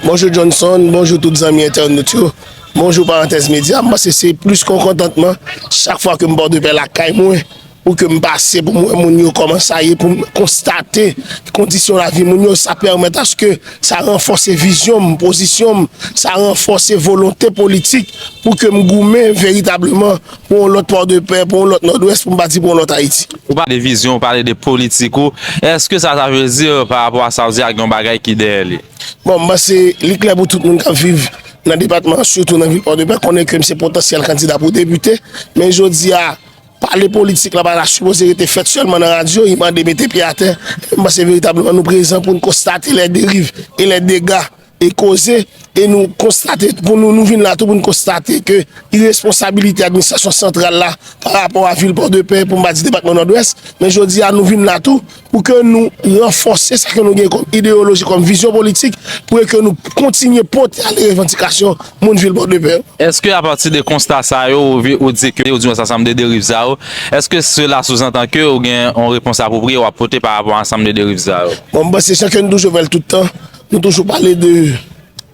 Bonjou Johnson, bonjou tout zanmi entènot yo, bonjou Parantèz Medya. M panse se plis kon kontantman chak fwa ke m Pòdepè lakay mwen pou ke m pase pou m wè moun yo kòman sa ye, pou m konstate kondisyon lavi moun yo. Sa pèmèt aske sa ranfòse vizyon m, pozisyon m, sa ranfòse volonte politik pou ke m goumen veritableman Pou yon lòt Pòdepè, pou yon lòt Nòdwès, pou m pa di pou yon lòt Ayiti. Ou pale de vizyon, ou pale de politik ou, èske sa sa vle di pa rapò a sa ou di a gen yon bagay ki dèyè li? Bon, m panse li klè pou tout moun k ap viv nan depatman an, sitou nan vil Pòdepè konnen ke m se potansyèl kandida pou depite. Men jodi a, pale politik la pa ta sipoze rete fèt sèlman nan radyo, li mande mete pye atè. M panse veritableman nou prezan pou n konstate lè deriv e lè dega e koze, e nou konstate, nou vin la tou pou nou konstate ke iresponsabilite administrasyon santral la pa rapò a vil Pòdepè pou m pa di depatman Nòdwès, men jodi a nou vin la tou pou ke nou ranfòse sa ke nou gen kòm ideyoloji, kòm vizyon politik pou e ke nou kontinye pote ale revandikasyon moun vil Pòdepè yo. Eske apati de konsta sa yo ou di ke, ou di mwen sa sanm de deriv sa yo, eske sela souzantan ke ou gen yon repons apwopriye wap pote pa rapò ansanm de deriv sa yo? Bon, m panse se sa ke nou toujou fè l tout tan. Nou toujou pale de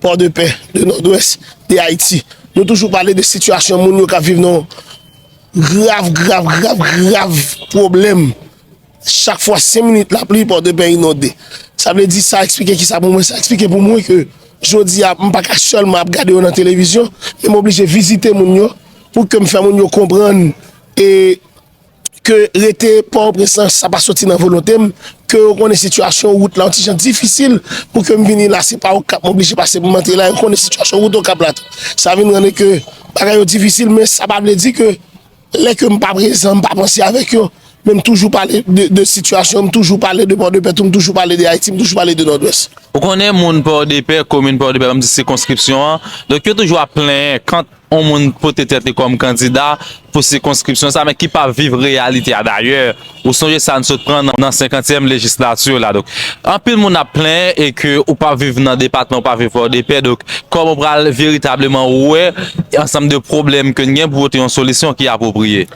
port de paix, de nord-ouest, de Haiti. Nou toujou pale de situation moun yo kap viv nan grav, grav, grav, grav problem. Chak fwa 5 minit la pli, port de paix inonde. Sa vle di sa eksplike ki sa pou mwen? Sa eksplike pou mwen ke jodi a m pa ka selman ap gade yo nan television, men m oblije vizite moun yo pou ke m fè moun yo konprann e... Ke rete Pòtoprens lan sa pa soti nan volonte m, ke yo konnen sitiyasyon wout la yon ti jan difisil pou ke m vini la, se pa Okap m oblije pase pou m antre la, yo konnen sitiyasyon wout Okap la tou. Sa vin rann e ke bagay yo difisil men sa pa vle di ke lè ke m pa prezan, m pa panse avèk yo men m toujou pale de sitiyasyon, m toujou pale de Pòdepè tou, m toujou pale de Ayiti, m toujou pale de Nòdwès. Ou konnen moun Pòdepè, komin Pòdepè banm di sikonskripsyon an, donk yo toujou ap plenyen kant. yon moun pote tèt li kòm kandida pou sikonskripsyon sa men ki pa viv reyalite a dayè ou sonje sa n sot pran nan senkantyèm lejislati la donk anpil moun ap plenyen e ke ou pa viv nan depatman ou pa viv pòdepè donk kòman ou pral veritableman wè ansanm de pwoblèm ke n gen pou pote yon solisyon ki apwopriye.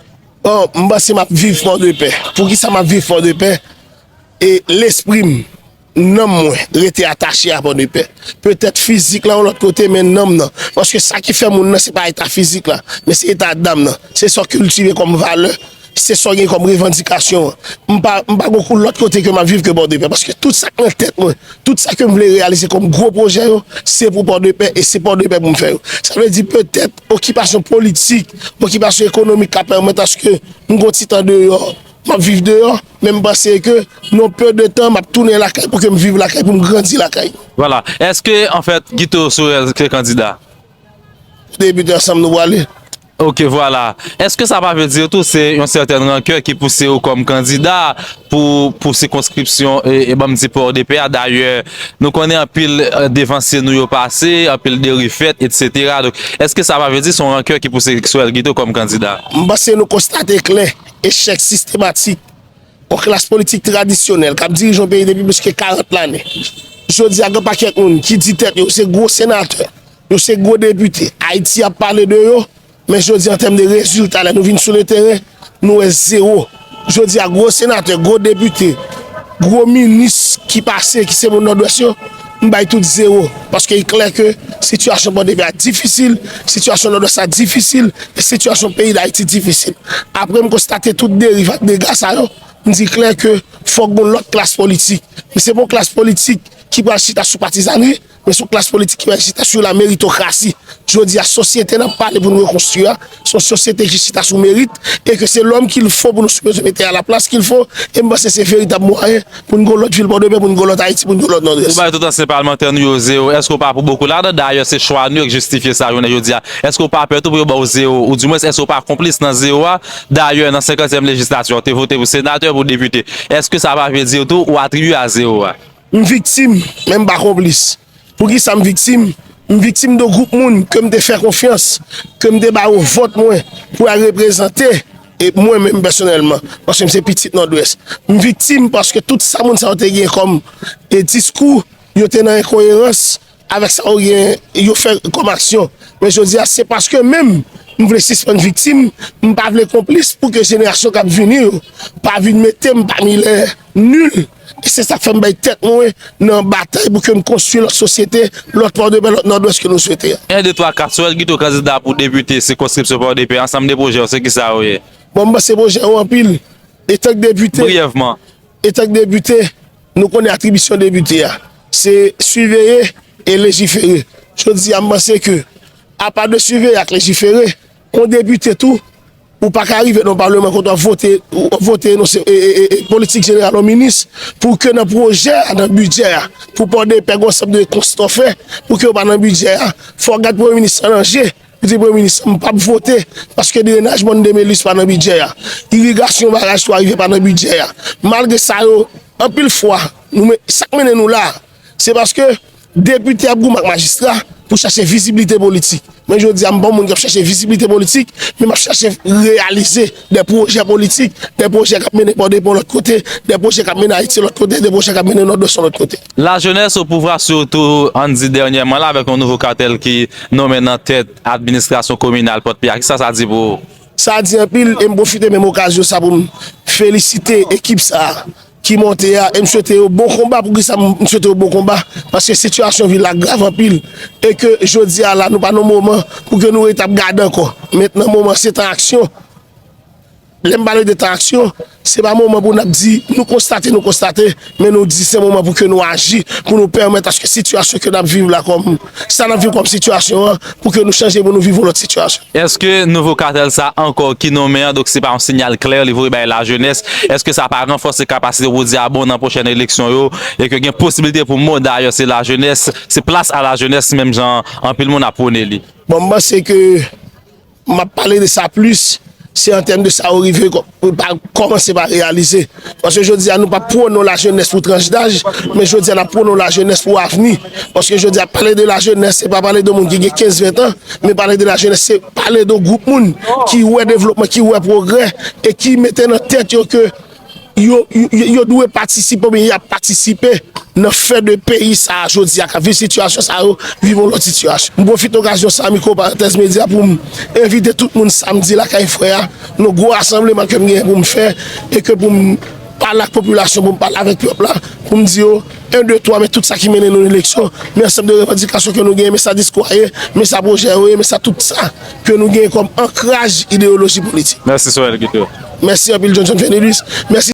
Bon m panse m ap viv pòdepè poukisa m ap viv pòdepè e lespri m Nanm mwen rete atache a Pòdepè. Petèt fizik la yon lòt kote men nanm nan. Paske sa ki fè moun nan se pa eta fizik la, men se eta dam nan. Se sa w kiltive kòm valè, se sa w gen kòm revandikasyon. M pa gen kou lòt kote ke m ap viv ke Pòdepè. Paske tout sa k nan tèt mwen, tout sa ke m vle reyalize kòm gwo pwojè yo, se pou Pòdepè e se Pòdepè pou m fè yo. Sa vle di petèt okipasyon politik, okipasyon ekonomik ka pèmèt aske m gen yon ti tan deyò, m ap viv deyò. Men m panse ke non peu de tan map tounen lakay pou kem viv lakay pou m grandi lakay. Vwala, eske an fèt Guito Sorel se kandida? Pou depite ansanm nou pwale. Ok vwala, eske sa pa vle di tou se yon sètèn rankè ki pouse ou kòm kandida pou sikonskripsyon e banm di port de paix a dayè nou konnen anpil devansye nou yo pase, anpil deriv fèt etc. Donk eske sa pa vle di son rankè ki pouse Sorel Guito kòm kandida? M panse nou konstate klè Echèk sistematik yon klas politik tradisyonèl k ap dirije yon peyi depi plis ke 40 lane. Jodi a gen pakèt moun ki di tèt yo se gwo senatè, yo se gwo depite, Ayiti ap pale de yo, men jodi an tèm de rezilta lè nou vin sou le teren, nou wè zewo. Jodi a gwo senatè, gwo depite, gwo minis ki pase ki se moun Nòdwès yo, M bay tout zewo, paske li klè ke sitiyasyon Pòdepè a difisil, sitiyasyon Nòdwès la difisil, e sitiyasyon peyi Dayiti difisil. Apre m konstate tout deriv ak dega sa yo, m di klè ke fòk gon lòt klas politik. Men se pa yon klas politik ki pral chita sou patizanri, men se yon klas politik ki pral chita sou la meritokrasi. Jodi a, sosyete n ap pale pou n rekonstwi a, Son sosyete ki chita sou merit e ke se lòm kil fo pou nou sipoze mete a la plas kil fo e m panse se veritab mwayen pou n gon lòt vil Pòdepè, pou n gon lòt Ayiti, pou n gon lòt Nòdwès. Ou bay tout ansyen palmantè nou yo zewo, èske ou pa pou bokou ladan? Dayè se chwa nou yo k jistifye sa jounen jodi a. Èske ou pa pè tou pou yo ba w zewo? Ou di mwens èske ou pa konplis nan zewo a? Dayè nan senkantyèm lejislatyon ou te vote pou senatè, pou depite. Èske sa pa vle di w tou ou atribye a zewo a? M viktim, men m pa konplis. Pou ki sa m viktim? M viktim de gwoup moun ke m te fè konfyans, ke m te ba yo vòt mwen pou al reprezante mwen menm pèsonèlman, paske m se pitit Nòdwès. M viktim paske tout sa moun sa yo te gen kòm diskou, yo te nan enkoyerans. Avèk sa yo gen, yo fè kòm aksyon. Men jodi a, se paske menm m vle sispann viktim, m pa vle konplis pou ke jenerasyon k ap vini yo pa vin mete m pami lè nil. E se sa k fè m bay tèt mwen nan batay pou ke m konstwi lòt sosyete, lòt Pòdepè, lòt Nòdwès ke nou swete a. 1, 2, 3, 4, Souwèl Gito kandida pou depite sikonskripsyon Pòdepè, ansanm de pwojè w se ki sa yo ye? Bon, m panse pwojè yo anpil. Etank depite. Briyèvman. Etank depite. Nou konnen atribisyon depite a, se siveye e lejifere. Jodi a m panse ke, apa de siveye ak lejifere, yon depite tou, ou pa ka rive nan yon palman kote w ap vote, w ap vote enonse politik jeneral yon minis, pou ke nan pwojè a, nan bidjè a, pou pòdepè gen yon ansanm de konstan w fè, pou ke yo pa nan bidjè a, fò w gad premye minis lan nan je. Misye premye minis, m pap vote paske drenaj mòn Demelis pa nan bidjè a, irigasyon baraj 3 rivyè pa nan bidjè a. Malgre sa yo, anpil fwa, nou men, sa k mennen nou la a, se paske depite ap goumen ak majistra pou chache viziblite politik. Men jodi a m pa yon moun k ap chache viziblite politik, men m ap chache reyalize. De pwojè politik, de pwojè k ap mennen pò depo lòt kote, de pwojè k ap mennen Ayiti lòt kote, de pwojè k ap mennen Nòdwès yon lòt kote. Lajenès opouvwa sitou ann di dènyèman la avèk yon nouvo katèl ki nonmen nan tèt administrasyon kominal Pòt Pè a, kisa sa di pou ou? Sa di anpil e m pwofite menm okazyon sa pou m felisite ekip sa a. ki monte a e m swete yo bon konba poukisa m swete yo bon konba paske sitiyasyon vil la grav anpil e ke jodi a la nou pa nan moman pou ke nou ret ap gade ankò mentnan moman se tan aksyon lè m pale de tan aksyon se pa moman pou n ap di nou konstate nou konstate men nou di se moman pou ke nou aji pou nou pèmèt aske sitiyasyon ke n ap viv la kòm Sa n ap viv kòm sitiyasyon an pou ke nou chanje pou nou viv yon lòt sitiyasyon. Eske nouvo katèl sa ankò ki nonmen an, donk se pa yon sinyal klè li voye bay lajenès, eske sa pa ranfòse kapasite pou di a bon nan pwochèn eleksyon yo e ke gen posibilite pou mou dayè se lajenès, se plas a lajenès menm jan anpil moun ap pwone li? Bon, m panse ke. M ap pale de sa plis, se an tèm de sa yo rive kòmanse pa reyalize. Paske jodi a nou pa pwonon lajenès pou tranch daj, men jodi a n ap pwonon lajenès pou avni. Paske jodi a pale de lajenès se pa pale de moun ki gen 15, 20 tan, men pale de lajenès se pale de yon gwoup moun ki wè devlopman, ki wè pwogrè e ki mete nan tèt yo ke yo dwe patisipe oubyen y ap patisipe nan fè de peyi sa a jodi a k ap viv sitiyasyon sa yo viv yon lòt sitiyasyon. M pwofite okazyon sa a mikwo Parantèz Medya pou m envite tout moun samdi lakay frè a nan yon gwo rasanbleman ke m genyen pou m fè e ke pou m pale ak popilasyon pou m pale avèk pèp la pou m di yo 1 2 3 men tout sa ki mennen nou nan eleksyon men ansanm de revandikasyon ke nou genyen men sa diskou a ye men sa pwojè yo ye men sa tout sa. ke nou genyen kòm ankraj ideyoloji politik. Mèsi Soël Guido. Mèsi anpil Johnson Fenelus. Mèsi.